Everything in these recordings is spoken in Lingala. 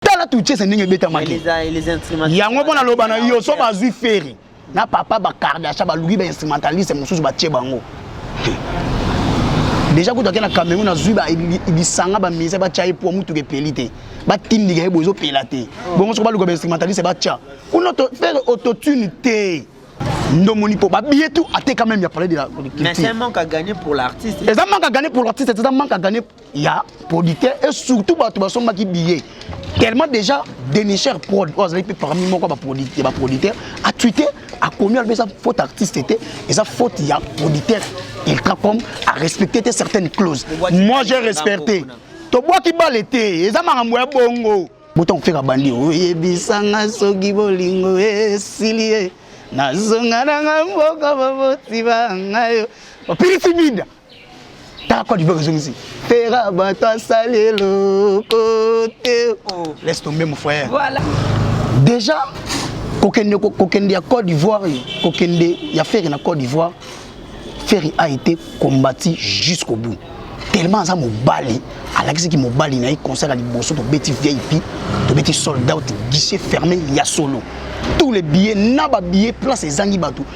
tala tuchese ndenge ebetamaki yango mpo naloba na yo so bazwi feri na papa bakardasha baluki bainstrumentaliste mosusu batie bango deja kutu ake na cameroun azwi lisanga bamise batya ye mpo motuka epeli te batindika ye bo ezopela te bongo soko baluka bainstrumentaliste batya kuna fere autotune te ndomoni mpo babiye tu ateka meme ya palais de la culture eza manque à gagner pour l'artiste eza manque à gagner ya producteur et surtout bato basombaki billet tellement déjà denicher prod oyo azali mpe parmi moko ya baproducteur atwite akomi alobi eza faute artiste te eza faute ya producteur iltracom arespecte te certaines clauses moi j'ai respecté tobwaki bale te eza makambo ya bongo botanga kofeka bandi oyebisanga soki bolingo esili ye nazonga nanga mboka baboti bangayo opilisi minda tala code ezongisi tera bato asali eloko te oh. laisse tomber mon frère voilà. déjà kokende kokende ya Côte d'Ivoire kokende ya Ferre na Côte d'Ivoire Ferre a été combattu jusqu'au bout tellement aza mobali alakisaki mobali na ye concert ya liboso tobeti vip tobeti sold out guichet fermé ya solo tous les billets na ba billets place ezangi bato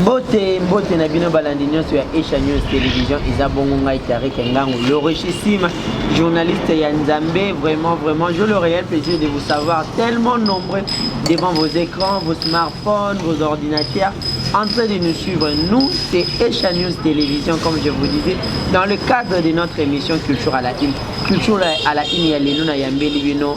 mbote mbote na bino balandi nyonso ya esha news television eza bongo ngai tarike ngango le richissime journaliste ya nzambe vraiment vraiment je le réel plaisir de vous savoir tellement nombreux devant vos écrans vos smartphones vos ordinateurs en train de nous suivre nous c'est esha news télévision comme je vous disais dans le cadre de notre émission culture à la une culture à la une ya lelo na yambeli bino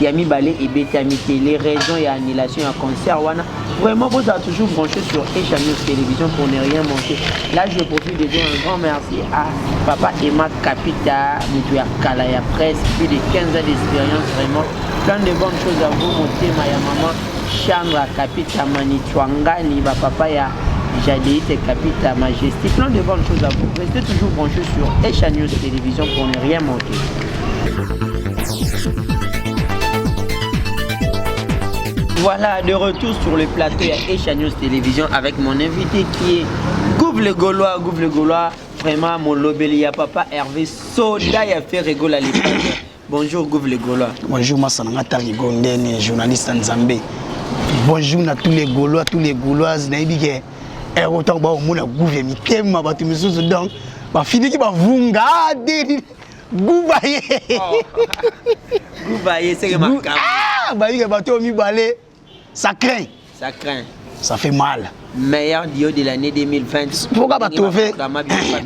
ya mibale ebetami te les raisons ya annulation ya concert wana vraiment bozala toujours branché sur Asia News Télévision pour ne rien manquer là je profite de dire un grand merci à papa Emma Capita moto ya kala ya presse plus de 15 ans d'expérience vraiment plein de bonnes choses à vous motema ya maman Chandra Capita Manitwangani ba papa ya Jadéite Capita Majesté plein de bonnes choses à vous restez toujours branché sur Asia News Télévision pour ne rien manquer Voilà, de retour sur le plateau ya Asia News Télévision avec mon invité qui est Gouv le Gaulois, Gouv le Gaulois, vraiment mon lobeli ya papa Hervé Soda ya Ferre Gola Bonjour Gouv le Gaulois. Bonjour Massananga Tari Gondene, journaliste en Zambé. Bonjour à tous les Gaulois, tous les Gauloises, nayebi ke eh, autant ba omona Gouv ya mitema bato misusu donc bafiniki bavunga ah, gubaye gubaye seke makambo ah, bayike bato oyo mibale ça craint ça craint ça fait mal meilleur duo de l'année 2020 pourquoi ba trouver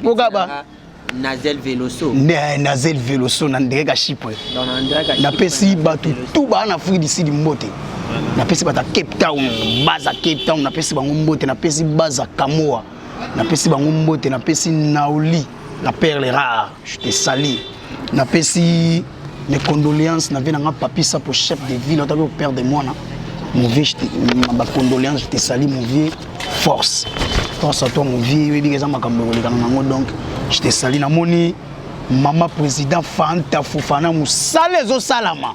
pourquoi ba nazel veloso ne nazel veloso na ndenge ka chipre napesi bato tu baa na afrique du sud mbote napesi bato ya cape town baza cape town napesi bango mbote napesi baza kamoa napesi bango mbote napesi naoli la perle rare je te sali napesi mes condoléances na vie na nga papi sapo chef de ville otaki opère de mwana mon vieux bacondoléance je te sali mon vieux force force à toi mon vieux oyebi eza makambo ekolekana nango donc je te sali namoni mama président fanta fofana mosala ezosalama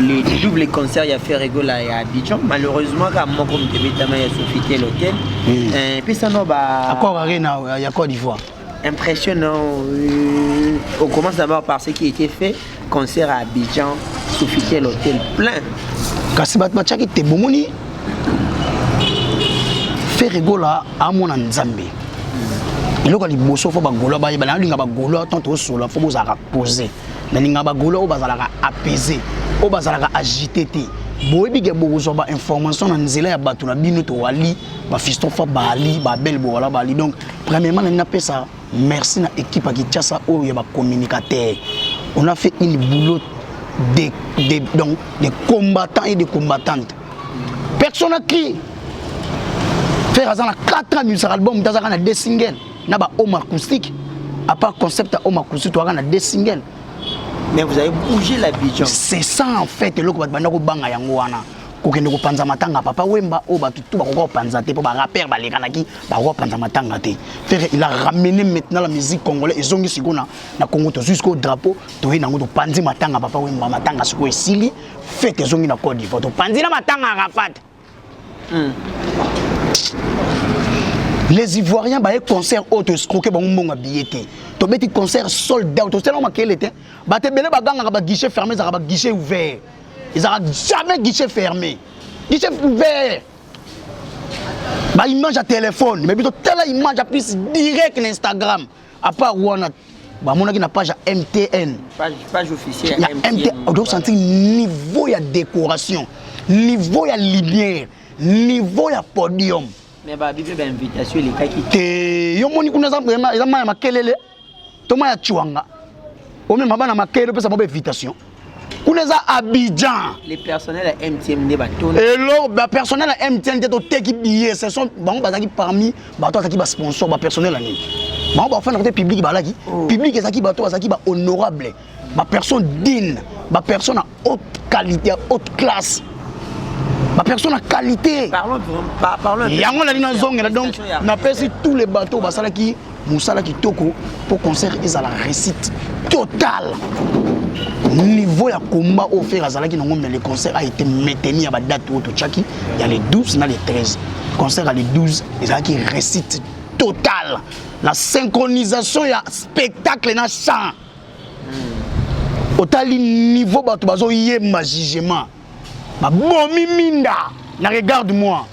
le double concert ya Ferre Gola ya Abidjan malheureusement ka moko moto ebetama ya Sofitel Hotel hmm. eh, pesa no ba accord arena euh, ya Côte d'Ivoire impressionnant euh, on commence d'abord par ce qui était fait concert à Abidjan Sofitel Hotel plein kasi bato batiaki te bomoni Ferre Gola amona Nzambe eloko ya liboso fo bagolois bayeba nayolinga bagolois tant tosola fo bozalaka pose nalinga bagolo oyo bazalaka apaise oyo bazalaka agite te boyebi ke bokozwa bainformation na nzela ya bato na bino towali bafistofa bali babele bowala bali donc premièrement nalingi napesa merci na équipe ya kinshasa oyo ya bacommunicateur on a fait une boulot de, de, donc, de combattants et de combattantes personne n'a crié frère aza na 4 ans abimisaka album te azaka na 2 single na ba home acoustique à part concept ya home acoustique toyaka na deux singles mais vous avez bougé la bijan c'est ça en fait eloko bato banda kobanga yango wana kokende kopanza matanga papa wemba oyo bato tu bakoka kopanza te mpo barapere balekanaki bakoka kopanza matanga te fere il a ramene maintenant la musique congolais ezongi sikoyo na, na congo tozwi sikoyo drapeau toye nango topanzi matanga papa wemba matanga sikoyo esili fete ezongi na cote divoire topanzi na matanga arafat les ivoiriens baye concert oyo toescroke bango mbongo ya biye te tobeti concert sold out osalaka makele te bato ebele bagangaka baguichet fermé ezalaka baguichet ouvert ezalaka jamais guichet fermé guichet ouvert baimage ya telefone mais biso tala image ya plus direct na instagram à part wana bamonaki na page ya mtn page, page officielle ya mtn ozo sentir niveau ya décoration niveau ya lumière niveau ya podium mais ba bibi ba invitation elekaki te yo moni kuna eza eza maya makelele to maya chuanga omema bana makelele opesa mwa ba invitation kuna eza abidjan elo bapersonnel ya mtn te toteki billet ce sont bango bazalaki parmi bato azalaki basponsor bapersonnel ya nini bango bafanda kote publike balaki oh. publike ezalaki bato bazalaki bahonorable bapersonne digne bapersonne ya haute qualité ya haute classe bapersonne ya qualité yango nali nazongela donc napesi tous les bateau basalaki mosala kitoko mpo concert ezala réussite totale niveau ya combat oyo fere azalaki nango mais le concert a été maintenu ya badate oyo totyaki ya le 12 na le 13 concert ya le 12 ezalaki réussite totale na synchronisation ya spectacle na chant hmm. otali niveau bato bazoyemba jugement babomi minda na regarde moi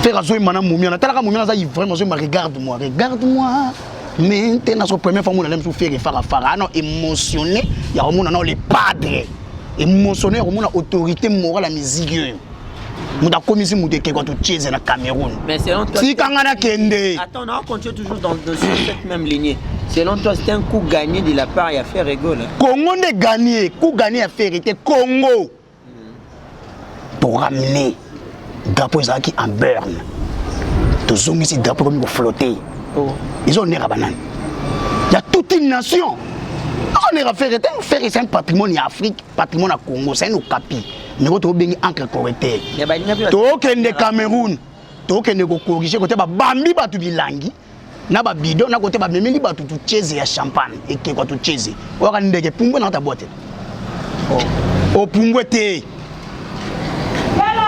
fer azoyemba na momia natalaka momia naza ivrem azoyemba regarde moi regarde moi mente nazo première fois mona lemosu fere farafara ano émotionné ya komona nao le padre émotionné ya komona autorité morale ya musique oyo moto akomisi moto ekeko totieze na cameroun tika nga nakende selon toi c'est un coup gagné de la part ya faire egole congo nde gagné coup gagné ya faire te congo pour ramener drapeau ezalaki en burne tozongisi drapeau ekomi koflotte oh. ezonera banani ya toute une nation tozonera faire te faire c'est un patrimoine ya afrique patrimoine ya congo c'est un okapi ndeko tobengi encre correcteur tokende cameroun tokende kokorige kote babambi bato bilangi na babido na kote bamemeli bato tucheze ya champagne ekekwa tucheze oyaka ndeke pumbwe na kota boite oh. opumbwe te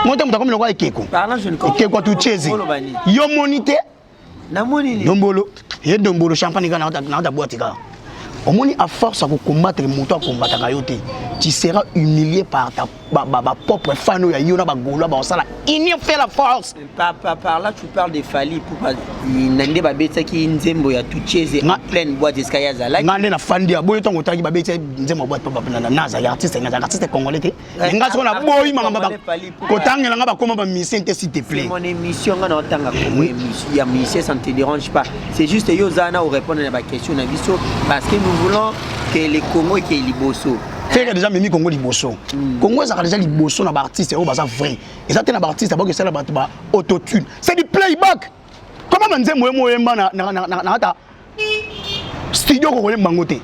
moto moto akomi lokola ekeko ekeko tucheze yo moni te namoni ni dombolo ye dombolo champagne kaka nakota nakota boîte kaka omoni à force ya kocombattre moto akombataka yo te tu seras humilié par ta ba, ba, ba propre fan oyo ya yo na bagolois bakosala union fait la force Par, par, par là, tu parles de Fally Ipupa. Na nde babetaki nzembo ya Tucheze en Nga- pleine boîte esika ye azalaki. ngai nde nafandi aboyi ntango otalaki babeti nzembo ya boîte papa na- na- nazali artiste nazali artiste congolais te mais nga soko na boyi makambo ba- kotangela nga bakoma ba musicien te s'il te C'est plaît mon émission nga na otanga kombo ya mus- ya musicien ça ne te dérange pas c'est juste yo oza na orépondre na baquestion na biso parce que nous voulons que le congo ekei liboso fere deja memi kongo liboso Mm. kongo ezalaka deja liboso na baartiste oyo baza vrai eza te na baartiste baoki esala bato ba autotune c'est du playback koma banzembo ye moyemba na- na- na- na- na ata studio kokoyemba yango te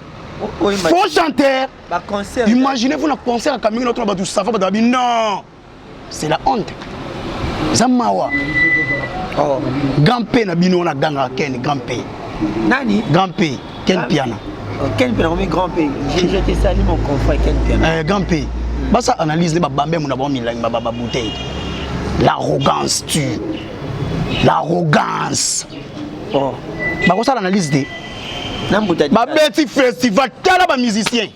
faux chanteur imaginez vous na concert ya kamingi na tona bato sava bato babi non c'est la honte eza mawa oh. grand p na bino wana gangaka ken grand p nani grand p ken piana oh, ken piana komi grand p je te sali mon confrère ken piana eh, grand p basa analyse nde babambe mona bango milangi bababouteille l'arrogance tu l'arrogance oh. bakosala analyse te babeti festival tala bamusicien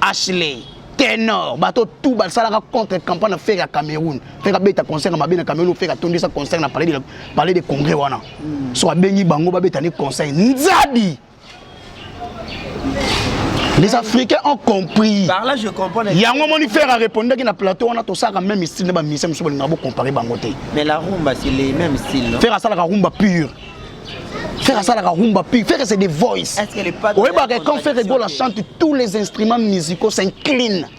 ashley tenor bato tu basalaka contre campagne na fere ya cameroun fere abeta concert ya mabe na cameroun fere atondisa concert na palais de congrès wana hmm. so abengi bango babeta nde concert nzadi les africains ont compris par là je comprends yango moni faire a répondaki na plateau wana tosaka même style nde bamisien mosusu bolinga bocompare bango te mais la rumba c'est les même style faire asalaka rumba pure Ferre asalaka rumba pure Ferre c'est des voice oyebaka quand Ferre Gola chante tous les instruments musicaux s'inclinent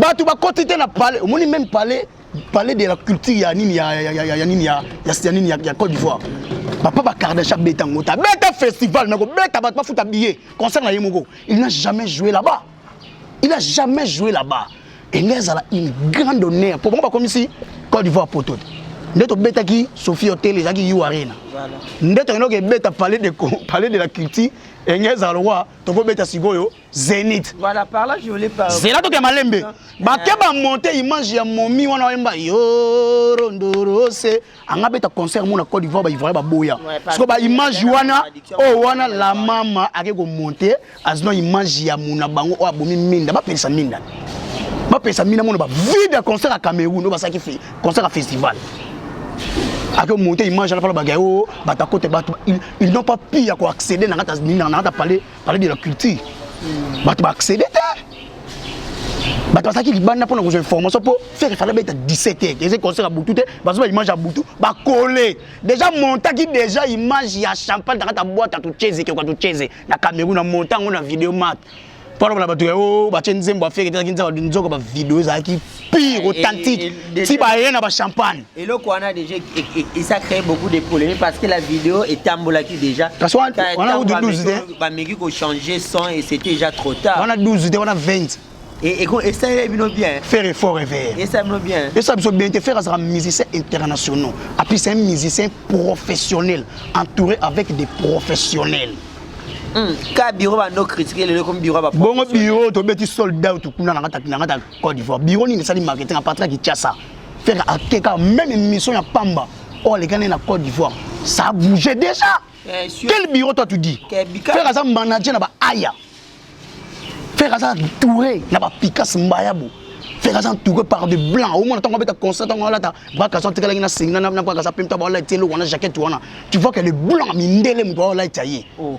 bato bakoti te na palais omoni meme palais palais de la culture ya nini ya ya ya ya nini ya ya nini ya Côte d'Ivoire papa bakardash abeta yango te abeta festival mais kobeta bato bafuta billet concert na ye moko il n'a jamais joué là-bas il n'a jamais joué là-bas engai ezala une grande honneur mpo bango bakomisi Côte d'Ivoire poto te nde tobetaki sophie hotel ezalaki u arena nde tokendaki ebeta palais de, palais de la culture engai ezala lokwa tokobeta sikoyo Zenith. Voilà, par là, je voulais pas. Zela toke malembe. Ah. Bakeba monter image ya momi wana wemba yo rondorose. Anga beta concert mona Côte d'Ivoire ba Ivoire ba boya. Parce que ba image wana oh wana la mama ake ko monter azno image ya mona bango o abomi minda ba pesa minda. Ba pesa minda mona ba vide concert à Cameroun, ba saki fait concert à festival. Ake monter image ala pala ba gayo oh, batakota batu ils n'ont pas pu ya ko accéder na ngata na ngata palais palais de la culture bato ba accéder te bato bazalaki libanda mpona kozwa information mpo fere efala beta 17 heures eze concert ya butu te bazoba image ya butu bakole déjà montaki déjà image ya champagne takata bwata tucheze keoka tucheze na cameroun na monta yango na video mat mpo alobala bato ya o oh, batye nzembo ya fere ezalaki nzaka nzoka bavideo ezalaki pire eh, authentique eh, eh, ti baye na bachampagne eloko wana déjà esa créé beaucoup de problème parce que la vidéo etambolaki déjà parce wana 12 te bameki kochanger son et c'était déjà trop tard wana 12 te wana 20 esaleli bino bien faire effort réveille esala bino bien esala biso bien te faire azalaka musicien internationaux apui c'est un musicien professionnel entouré avec des professionnels hmm, ka biro bando critiquer lelo comme biro ba bongo biro tobeti sold out kuna na kata na kata Côte d'Ivoire. Bureau nini esali marketing à partir de Kinshasa. Faire à Keka, même une mission à Pamba. Oh, les Ghanais na Côte d'Ivoire. Ça a bougé déjà. Eh, sur... Quel bureau toi tu dis Faire à manager na ba Aya. Faire à Touré na ba Pikas Mbayabo. Faire à Touré par des blancs. Au moins, tant qu'on va être constant, tant qu'on va être baka santé la na singa na na baka sa pimta ba la telo wana jacket wana. Tu vois que les blancs mindele mbo la taillé. Oh.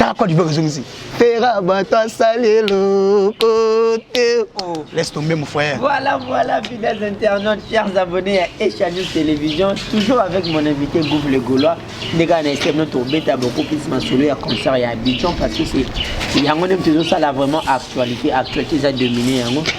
tala code ezongisi tera bato asali eloko te oh. laisse tomber mon frère voilà voilà fidèles internautes chers abonnés ya Asia News Télévision toujours avec mon invité Gouv le Gaulois ndenge ana estem no tobeta bokokisi masolo ya concert ya Abidjan parce que c'est yango nde tozosala vraiment actualité actualité eza domine yango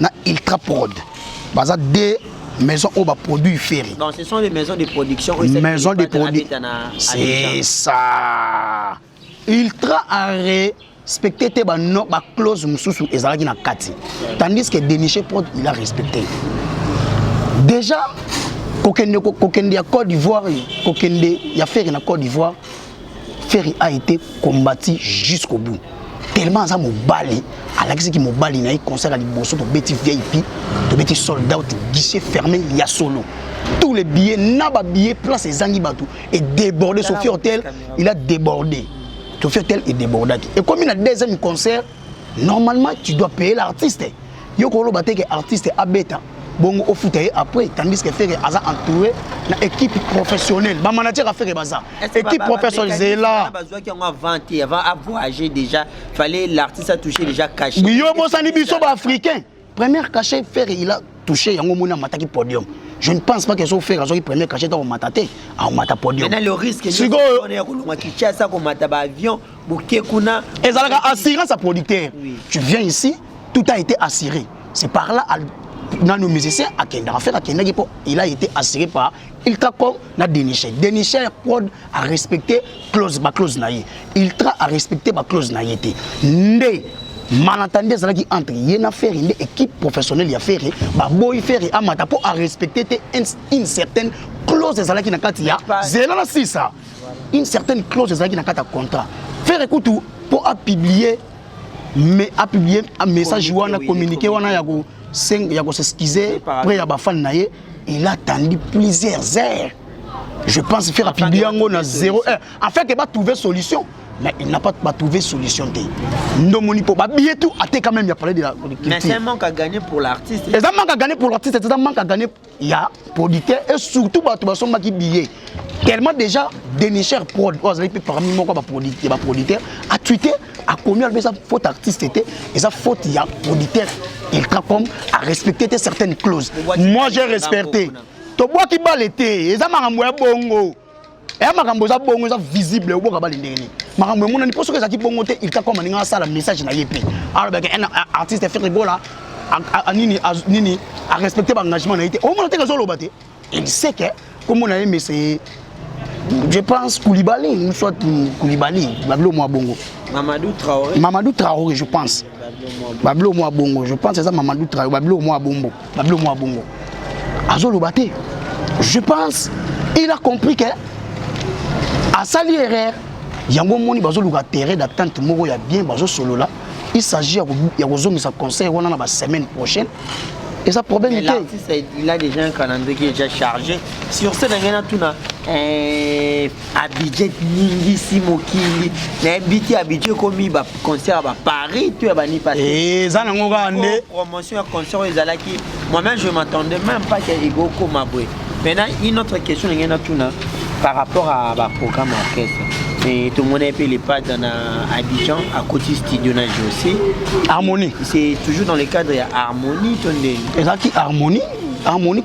na Ultra Prod. Baza deux maison oyo baproduit ferre donc ce sont les maisons de production maison de produit c'est ça ultra arrêt respecte te baclose ba mosusu ezalaki na kati tandis que deniche prod il a respecté déjà kokende kokende ya Côte d'Ivoire kokende ya ferre na Côte d'Ivoire Ferre a été combattu jusqu'au bout. Tellement aza mobali, alakisi ki mobali na ye concert ya liboso tobeti VIP, tobeti sold out, guichet fermé ya solo. Tous les billets, na ba billets, place ezangi bato et débordé. Sophie Hotel, il a débordé. Sophie Hotel est débordé. Et comme il a deuxième concert, normalement tu dois payer l'artiste. yo koloba te ke artiste abeta bongo ofuta ye après tandis que fere aza entouré na équipe professionnelle bamanager ya fere baza équipe professionnelle zela bazwaki yango avant te avant avoyage déjà fallait l'artiste atouche déjà caché yo bosani biso baafricain première cachet fere il a touché yango moni amataki podium je ne pense pas que so fere azwaki première cachet akomata te akomata podium sikoyo Bokekuna. Ezalaka assurance à producteur. Oui. Tu viens ici, tout a été assuré. C'est par là à nanu musicien akendaka fere akendaki mpo il a été assuré par iltracom na denicher denicher prod a respecté clause baclause na ye iltra a respecté baclause na ye te nde malentendu ezalaki entre ye na ferre nde équipe professionnelle ya ferre baboyi ferre amata mpo arespecte te une certaine close ezalaki na kati ya zela na sisa une certaine clause ezalaki na kati ya contrat ferre kutu mpo apublie mais apublie message wana communiqué wana ya ko ya ko s'excuser près ya bafani na ye il a attendu plusieurs heures je pense ferre apublie yango na 0 heure afin ke batrouve solution mais il n'a pas trouvé solution te ndomoni mpo babiye tout ateka même ya palais de la culture mais c'est un manque à gagner pour l'artiste eza manque à gagner pour l'artiste eza manque à gagner ya producteur et surtout bato basombaki billet tellement déjà denicher prod oyo azali mpe parmi moko ya baproducteur atwite akomi alobi eza faute artiste te eza faute ya producteur iltracom arespecte te certaines clause moi j'ai respecté tobwaki bale te eza makambo ya bongo eya eh, makambo eza bongo eza visible oboka bale ndenge nini makambo emonani mpo soki ezalaki bongo te ilka koma ndenge asala message na ye mpe alobaka un artiste fere gola nini nini arespecte baengagement na ye te omona teke ezoloba te il sait que komona ye mese je pense koulibaly soit koulibaly babilo mwa bongo mamadou traoré mamadou traoré je pense bablo mwa bongo je pense eza mamadou trayo bablo mwa bongo bablo mwa bongo azoloba te je pense il a compris que asali erreur yango omoni bazoluka terrain d'attente moko ya bien bazosolola il s'agit ya kozongisa conseil wana na basemaine prochaine eza problème te l'artiste il a déjà un calendrier qui est déjà chargé sur scène angena tuna eh, abidje ningisi mokili na mbiti abidje ekomi ba concert ya ba paris to ya ba nipa eh, eza nango kaka nde promotion ya concert oyo ezalaki moi-même je m'attendais même pas ke ekokoma boye maintenant une autre question ndenge natuna par rapport à ba programme ya orchestre mais tomonaki mpe lepata na abidjan akoti studio na josé harmonie c'est toujours dans le cadre ya harmonie to ndenge ezalaki harmonie harmonie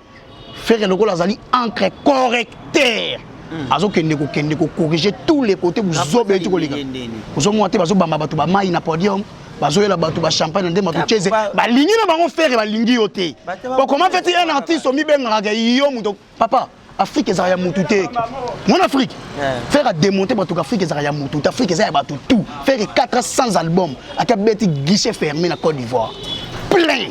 Ferre lokola azali encre correcteur. Hmm. azokende kokende kocorrige tous les côtés buzoba eti koleka ozomona te bazobamba bato bamai na podium bazoyela bato bachampagne nde bato chese balingi na bango fere balingi yo te okoma feti un artiste omibengaka yo moto papa afrike ezala ya motu te mwana afrike Faire a démonter bato Afrique ezaka ya mutu. Afrique eza ya bato tout. Faire 4 ans sans album, aka beti guichet fermé na Côte d'Ivoire. Plein.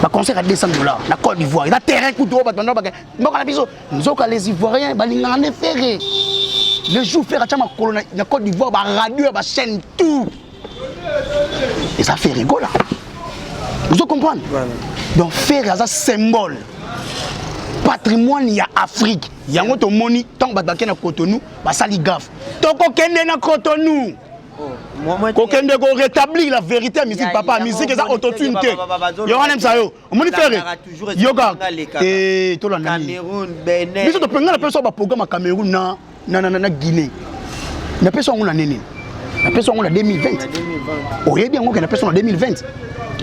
Ba concert à 200 dollars na Côte d'Ivoire. Eza terrain kutu oyo bato ndobaka. Mboka na biso nzoka les Ivoiriens balingana ne faire. Le jour faire acha makolo na Côte d'Ivoire ba radio ba chaîne tout. eza fere gola ozo comprendre donc fere aza symbole patrimoine ya afrique yango tomoni ntango bato bakei na cotonou basali gafe tokokende na cotonou oh, kokende ko rétablir la vérité ya musique papa musique eza autotune te yo wana msa yo omoni frere yoka eh, tolandabiso topengana mpe so baprogramme ya cameroun na, na, na, na, na guinée napesi yango na nini napesi yango na 2020 oyebi yango ke napesi yango na 2020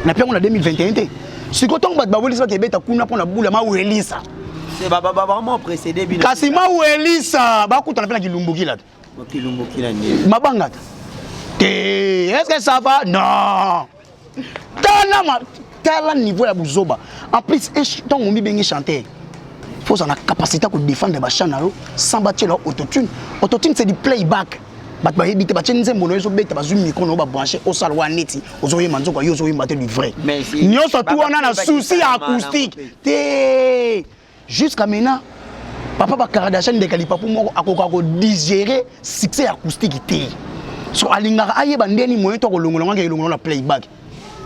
nape yango na 2021 te sikoyo ntango bato bawelisa bato ebeta kuna mpo na bula mawelisa kasi mawelisa bakutana mpe na kilumbuki lata mabangata te est-ce que ça va non tala ma tala niveau ya buzoba en plus ntango omibenge chanteur faut ozala na capacité ya kodefendre bachan na yo sans batiela autotune autotune c'est du playback bato bayebi te batye nzembo na yo ezobeta bazwi mikro na yo babranche osala wana neti ozoyemba nzoka yo ozoyemba te du vrai nyonso tu wana na souci ya acoustique te Jusqu'à maintenant, papa ba Kardashian ndeka lipapu moko akoka ko digérer succès ya acoustique te. So alingaka ayeba ndeni moyen to kolongola ngaka elongola na playback.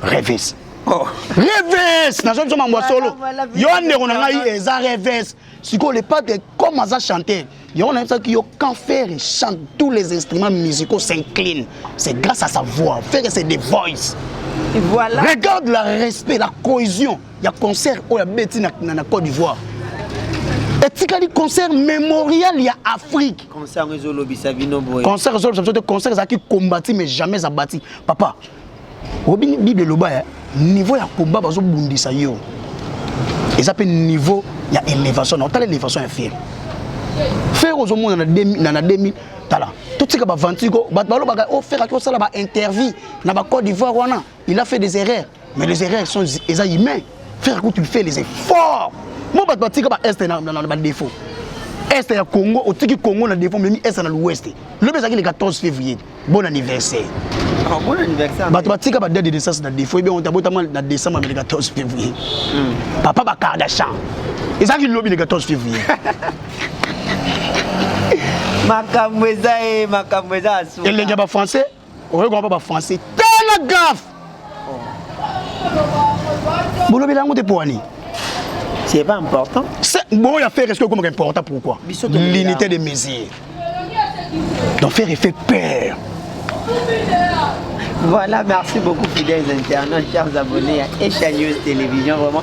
Rêves. Oh. Rêves, nazo biso mambo solo. Yo ndeko na ngai eza rêves. Siko le pate comme aza chanteur, yango nayebisaki yo quand ferre chante tous les instruments musicaux s'inclinent c'est grâce à sa voix ferre c'est des voice voilà. regarde la respect la cohésion ya concert oyo oh, abeti na, na, na côte d'ivoire etikali concert mémorial ya afrique concert ezolobisa bino boye concert ezolobisa biso te concert ezalaki combati mais jamais abati papa obi bible eloba ya niveau ya combat bazobundisa yo eza mpe niveau ya elevation na otala elevation ya fere fere ozomona na 2000 tala totika baventure ko bato balobaka o oh, feraki osala baintervie na bacode d'ivoire wana il a fait des erreurs mais les erreurs sont eza humain frère kutu fait les efforts mo bato batika baeste na badefo este ya congo otiki congo na defo omemi este na l'ouest lobi ezalaki le 14 février bon anniversaire ah, bon anniversaire bato batika ba date de naissance na défaut ebe onta botama na décembre amele 14 février hmm. papa ba kardashan ezalaki lobi le 14 février makambo eza ye eh, makambo eza asuka elenge ya bafrançais okoki komapa bafrançais tala gafe bolobela yango te mpo wani c'est pas important bon ya faire est-ce que okomaka important pourquoi l'unité de mesure donc faire effet père Voilà, merci beaucoup fidèles internautes, chers abonnés à Echa News Télévision. Vraiment,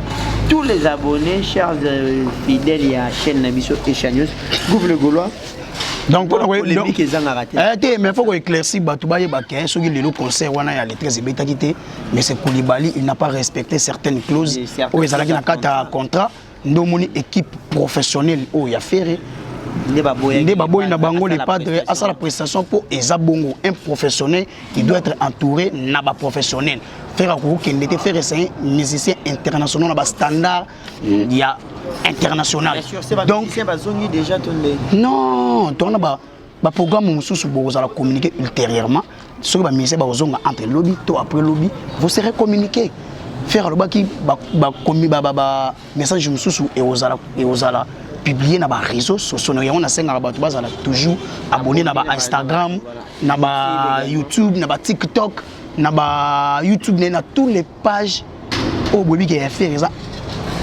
tous les abonnés chers euh, fidèles ya chaîne na biso echanios gouve le gaulois donc mpona polémique ezangaka te eh, te mais faut koéclaircir bato bayeba ke soki lelo concert wana ya letrese ebetaki te mais c'est koulibaly il n'a pas respecté certaines clauses oyo ezalaki na kati ya contrat nde omoni équipe professionnelle oyo ya ferre nde baboyi na bango le padre asala prestation mpo eza bongo un professionnel qui doit être entouré na ba professionnels faire akokokende te faire esangi musicien international na bastandard ya international donc bazongi déjà to ndenge non towana ba baprogramme mosusu bokozala communiquer ultérieurement soki bamusicien bakozonga entre lobi to après lobi vous serez communiquer faire alobaki message mosusu ekozala ekozala publie na bareseau sociaux na yango nasengaka bato bazala toujours abonne na bainstagram na bayoutube na batiktok na bayoutube naye na tous les pages oyo boyebi ke ya fere eza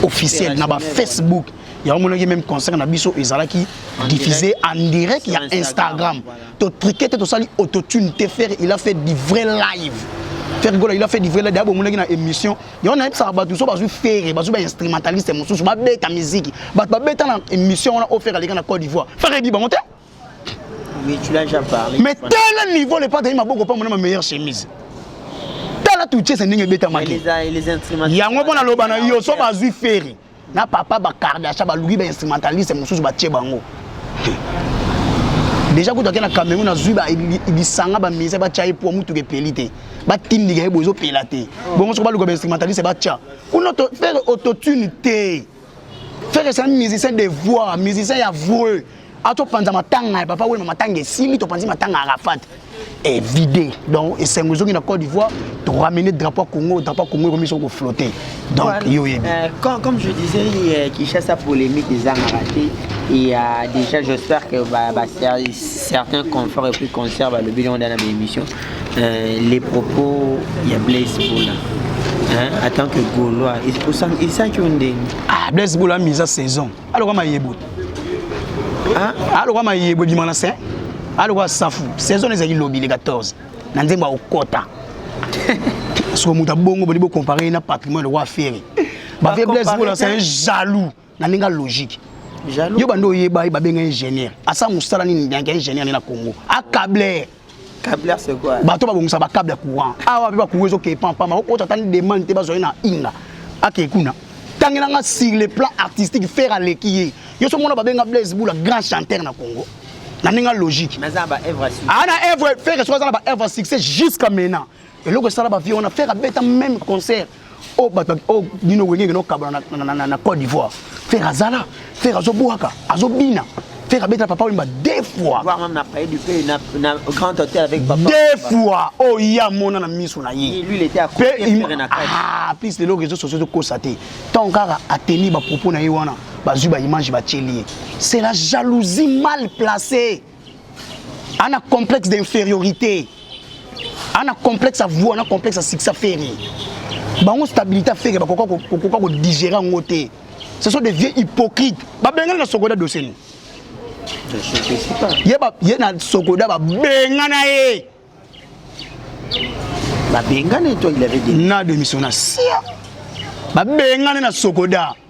officiel na bafacebook yango omonaki meme concert na biso ezalaki diffusé en direct ya instagram totrike te tosali autotune te fere il a fait du vrai live fere gola il a fait du vrai live ya bomonaki na émission yango nayebisaka bato mosusu bazwi fere bazwi bainstrumentaliste mosusu babeta miziki bato babeta na émission wana ofere aleka na côte d'ivoire fere ebi bango te mais tala niveau le patali maboko pamona ma meilleure chemise tala tuchese ndenge ebetamaki yango mpo naloba na yo so bazwi fere na papa ba kardasha baluki ba instrumentaliste mosusu batie bango deja kutu ake na cameroun nazwi lisanga bamise batya ye po motuka epeli te batindika ye bo ezopela te bongo soko baluka bainstrumentaliste batya kuna fere autotune te fere c'est un musicien de voix musicien ya vreux a topanza matanga ya papa wema matanga esili topanzi matanga ya arafat evide donc esengo ezongi na côte d'ivoire toramener drapeau congo drapeau congo ekomi soko koflotte donc voilà. yo oyebi euh, comme je disais euh, kinshasa polémique ezangaka te il y a déjà j'espère que bah, bah, certains confort et puis concert balobi longo dana baémission euh, les propos ya blaise bola hein, en tant que gaulois esanki yo ndenge ah, blaise bola mise à saison aloka mayebo aloka mayebo ebima na se aloka safu saison ezalaki lobi le 14 na nzembo akokota soko moto abongo boni bocompare ye na patrimoine lokola fere bavie blaise bola c'est un jaloux na ndenge logique yo bando oyeba ye babenga ingénieur asala mosala nini yanke ingénieur nde na congo acable bato babongisa bakable ya courant awa mpe bacourant ezokee pampama okota atani demande te bazwai na inga akei kuna tangela nga sur le plan artistique faire aleki ye yo so mona babenga blaise bula grand chanteur na congo na ndenge logique aa na evre ah, fere soki aza na baevre succès jusqu'à maintenant eloko esala ba vieux wana faire abeta même concert o oh, bato o oh, bino wenge ngeno kabla na, na, na, na, na Côte d'Ivoire faire azala faire azobwaka azobina faire abeta papa wemba deux fois voir même na paye du pays na, na grand hôtel avec papa deux fois o oh, ya mona na miso na ye lui il était à côté faire na kati ah plus les réseaux sociaux de kosa te tant kaka a tenir ba propos na ye wana bazui ba image ba tieli c'est la jalousie mal placée ana complexe d'infériorité ana complexe avoua na complexe ya succès afere bango stabilité afere bakoka kokoka kodigere yango te ce sont des vieux hypocrites babengani na sokoda doseni ye, ba, ye na sokoda babengana ye babengana eto il avait dit na demission na sia babengani na sokoda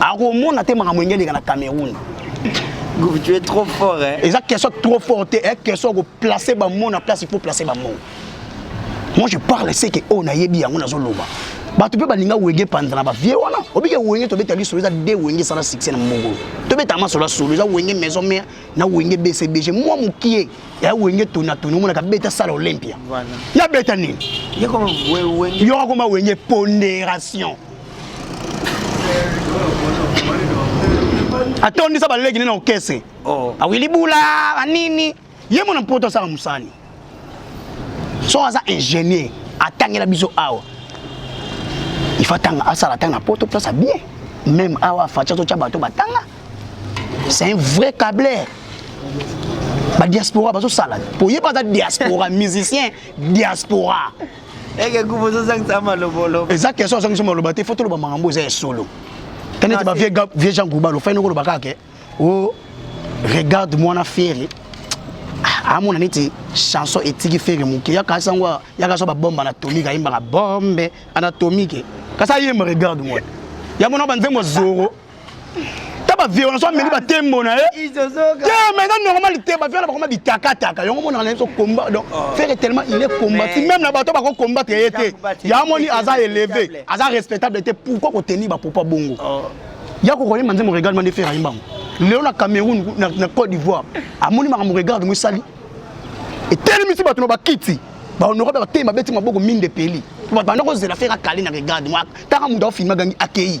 akomona te makambo enge eleka na cameroun Gouf, tu es trop fort hein. eza question trop fort te e question koplace bamo na place il faut place bamo moi je parle ce que oyo nayebi yango nazoloba bato mpe balinga wenge panza na bavie wana obike wenge tobeta lisolo eza de wenge esala succès na mongolo tobeta masolo ya solo eza wenge maison mare na wenge bcbg mwa mokie ya wenge tonatoni omonaka beta sala olympia Voilà. ya beta nini Ye koma we- wenge. yokakoma wenge ponderation atondisa baleki nini na okese oh. awili bula banini ye mona mpoto asala mosani so aza ingénieur atangela biso awa ifa tanga asala tanga poto mpe asa bien même awa faci azotya bato batanga c'est un vrai cabler badiaspora bazosala po ye mpe aza diaspora musicien diaspora eke kufa ozozangisa maloboloba eza question ozangisa maloba te fo toloba makambo eza ya solo tani ete bavie jean grouba lofai noko oloba kaka o oh, regarde mwana fere ah, amona neti chanson etiki fere moke yaka sango yaka so babomba na tomike ayembaka bombe anatomike kasi ayemba regarde mwana yango na banzembo zoro ta baviolence ameli batembo na ye te mais eza normal te bavia na bakoma bitakataka yango monaka na biso combat donc oh. fere tellement il est combati même na bato bako combattre ye te ya moni aza élevé aza respectable te pourquoi kotenir bapopa bongo oh. ya kokoyemba nzembo regarde mande fere ayembango lelo na cameroun na côte d'ivoire amoni makambo regarde ngo esali etelemisi bato na bakiti baonora mpe bateye mabeti maboko minde peli banda kozela fere akali na regarde mwa kaka moto aofilme agangi akeyi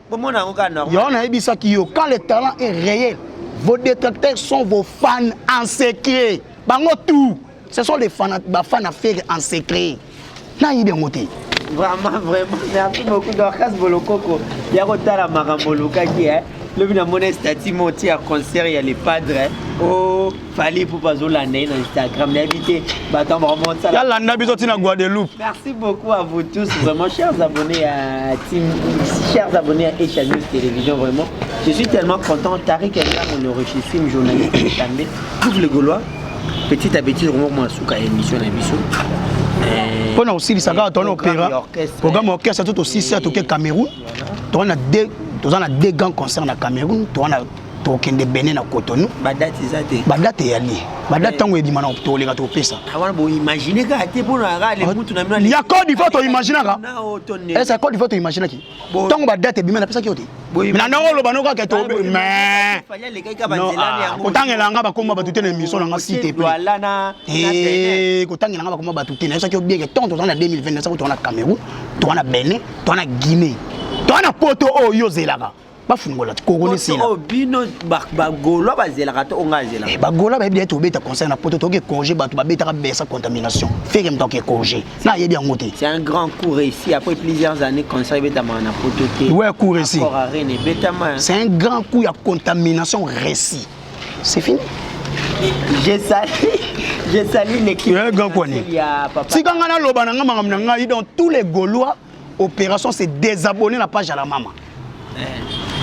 bomona yango kaka normal yango nayebisaki yo quand le talent est réel vos détracteurs sont vos fans en secret bango tout ce sont les fans bafan ya fere en secret nayebi yango te vraiment vraiment merci beaucoup dorcas bolokoko ya kotala makambo olukaki eh? lobi namona estati moti ya concert ya le padre o oh. Fally Ipupa azolanda ye na Instagram nayebi te bato ya bamosala yalanda biso ntina Guadeloupe merci beaucoup à vous tous vraiment chers abonnés à team chers abonnés à Asia News Télévision vraiment je suis tellement content Tariq Enda mon richissime journaliste Tambe double gaulois petit à petit vraiment moi suka émission na biso eh, mpo na kosilisa kaka tona opéra programme orchestre to tosisi atoke Cameroun toza na deux grands concerts na Cameroun toza na tokokende bene na cotonou badate eza te badate eyali badate ntango ebima na tokoleka tokopesa ah, wana boimagine kaka te mpona kaka le mutu na bino ya code ivoire toimaginaka esa eh, code ivoire toimaginaki ntango badate ebima napesaki yo te na ndenge oloba no kaka kotangela nga bakoma bato te na émission na nga site eh, kotangela nga bakoma bato te nayebisaki yo bien ke ntango tozala na 2020 nasako toza na cameroun toza na benin toza na guinée toza na poto oyo ozelaka bafungola kokoni sila oh, bino bagola bazelaka to onga azela eh, bagola bayebi ete obeta conseil na poto toke congé bato babetaka besa contamination feke moto ake congé na ayebi yango te c'est un grand cours ici après plusieurs années conseil ebetamaka na poto te ouais cours ici c'est un grand coup ya contamination récit c'est fini je sali je sali l'équipe eh, tika ngai naloba na ngai makambo na ngai donc tous les gaulois opération se désabonner na page ya la mama eh.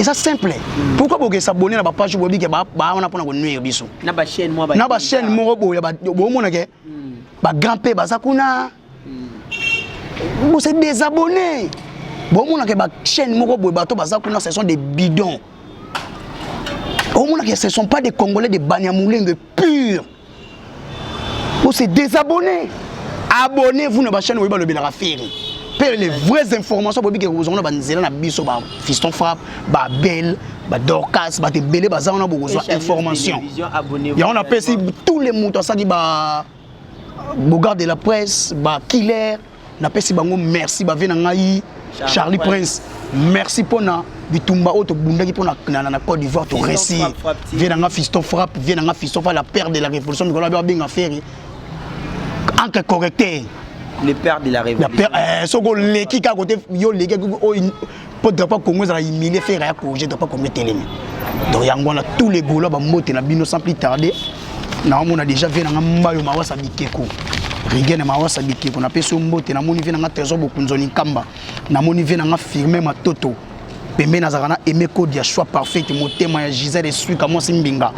eza simple mm. pourquoi boke s'abonner na bapage boyebi ke bawana mpona konuire biso na bachaîne moko boye bomona ke mm. bagrand mpe baza kuna mm. bose désabonner bomona ke bachaîne moko boye bato baza kuna ce sont des bidons omona ke ce sont pas des congolais de banyamulenge pure On s'est désabonné. Abonnez-vous na ba chaîne oyebi balobelaka Ferre. Pe les vraies informations bobi ke kozonga na banzela na biso ba Fiston Frappe, ba Belle, ba Dorcas, ba tebele baza wana bokozwa information. Yango na pesi tous les moto asaki ba Bogard de la presse, ba Killer napesi bango merci bave na ngai charlie prince merci mpo na bitumba oyo tobundaki mpo na côte d'ivoire toresi vie na nga fiston frappe vie na nga fiston fa la père de la révolution mikolo abe abenga fere encre correcteur le père de la révolution eh, soki oleki kaka kote yo oleki oyo mpo drapo ya congo ezala humilie fere ya corrige drapo ya congo etelemi donc yango wana tous les golois bambote na bino sans plus tarde naomona déjà vie nanga mbayo mawasa bikeko rigene mawasa bikeko napesi yo mbote namoni vie nanga trésor bokunzoni nkamba namoni vie nanga firme matoto pembeni azalaka na aime code ya choix parfaite motema ya gisele eswika mwasi mbinga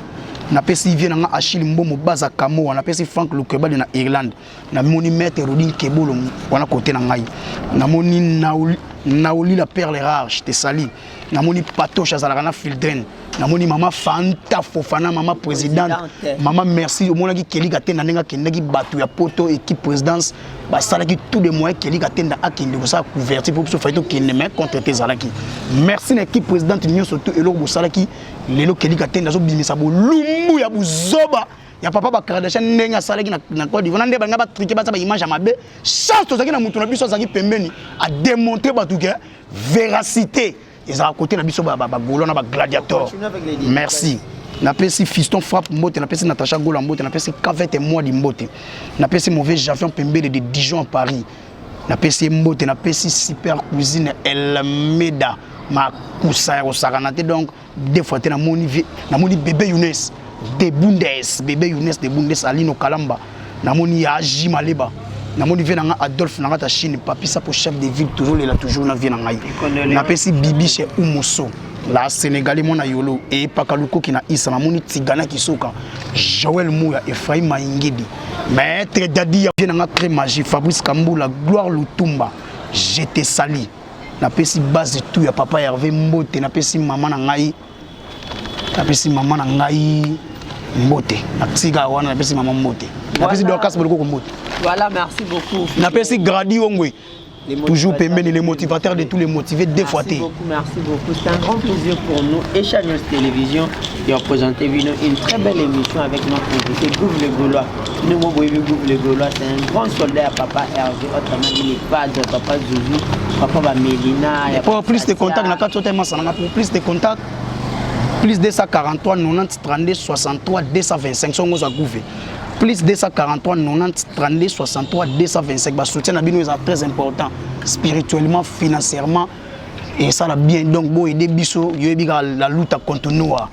napesi vie nanga achille mbomo baza kamoa napesi frank lukebali na irlande namoni maître Rudi Nkebolo wana kote na ngai namoni Naoli la perle rare je te sali namoni Patoche azalaka na Fildren namoni mama Fanta Fofana mama présidente mama merci omonaki Kelly Katenda ndenge akendaki bato ya poto équipe présidence basalaki tout de moyens Kelly Katenda akende kosala couverture mpo biso fai tokende mais contre te ezalaki merci na équipe présidente nyonso tout eloko bosalaki lelo Kelly Katenda azobimisa bolumbu ya buzoba ya papa ba Kardashian ndenge asalaki na, na Côte d'Ivoire nde banga ba truquer ba ba image ya mabe chance tozaki na mutu na biso azaki pembeni a démontrer batu ke véracité ezala côté na biso ba ba, ba golo na ba gladiator merci napesi fiston frappe mbote napesi natacha gola mbote napesi cavete moi di mbote napesi mauvais javion pembele de dijon à paris napesi ye mbote napesi super cuisine elmeda makusa ya kosakana te donc deux fois te namoni vie namoni bebe Younes de Bundes bebe Younes de Bundes Alino Kalamba namoni ya J Maleba namoni vie na nga Adolphe na nga ta Chine papi sapo chef de ville toujours lela toujours na vie na ngai napesi bibi chez Umoso la Sénégalais mwana yolo eyepaka lukoki na isa namoni tigana kisoka Joël Mouya Ephraim Maingidi maître Dadi ya vie na nga très magie Fabrice Kambula Gloire Lutumba je te salis napesi base tout ya papa herve mbote napesi mama na ngai napesi mama na ngai mbote natika wana napesi mama mbote napesi dorcas bolokoko mbote voilà merci beaucoup napesi gradi ongwe toujours pembeni les motivateurs de tous les motivés deux fois te merci beaucoup c'est un grand plaisir pour nous et Channel Télévision de présenter une très belle émission avec notre invité Gouv le Gaulois ndenge moko boyebi groupe le golois c'est un grand soldat ya papa herve autrement dit le padre papa zuzu papa bamelina ya pour plus de contact na kati otali masananga pour plus de contact plus 243 90 32 63 225 songo ozwa gouve plus 243 90 32 63 225 basoutien na bino eza très important spirituellement financièrement esala bien donc boyede biso yoyebi kaka la luta continua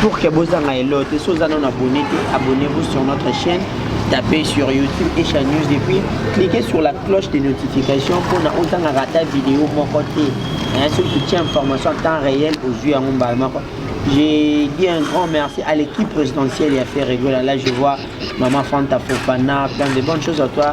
pour que bozanga elo te so oza nano abonné te abonnez vous sur notre chaîne tapez sur youtube echa news et puis cliquez sur la cloche de notification mpona ozanga rata video moko te soki totie information en temps réel ozwi yango mbala moko J'ai dit un grand merci à l'équipe présidentielle et à Ferregola. Là, je vois Maman Fanta Fofana, plein de bonnes choses à toi.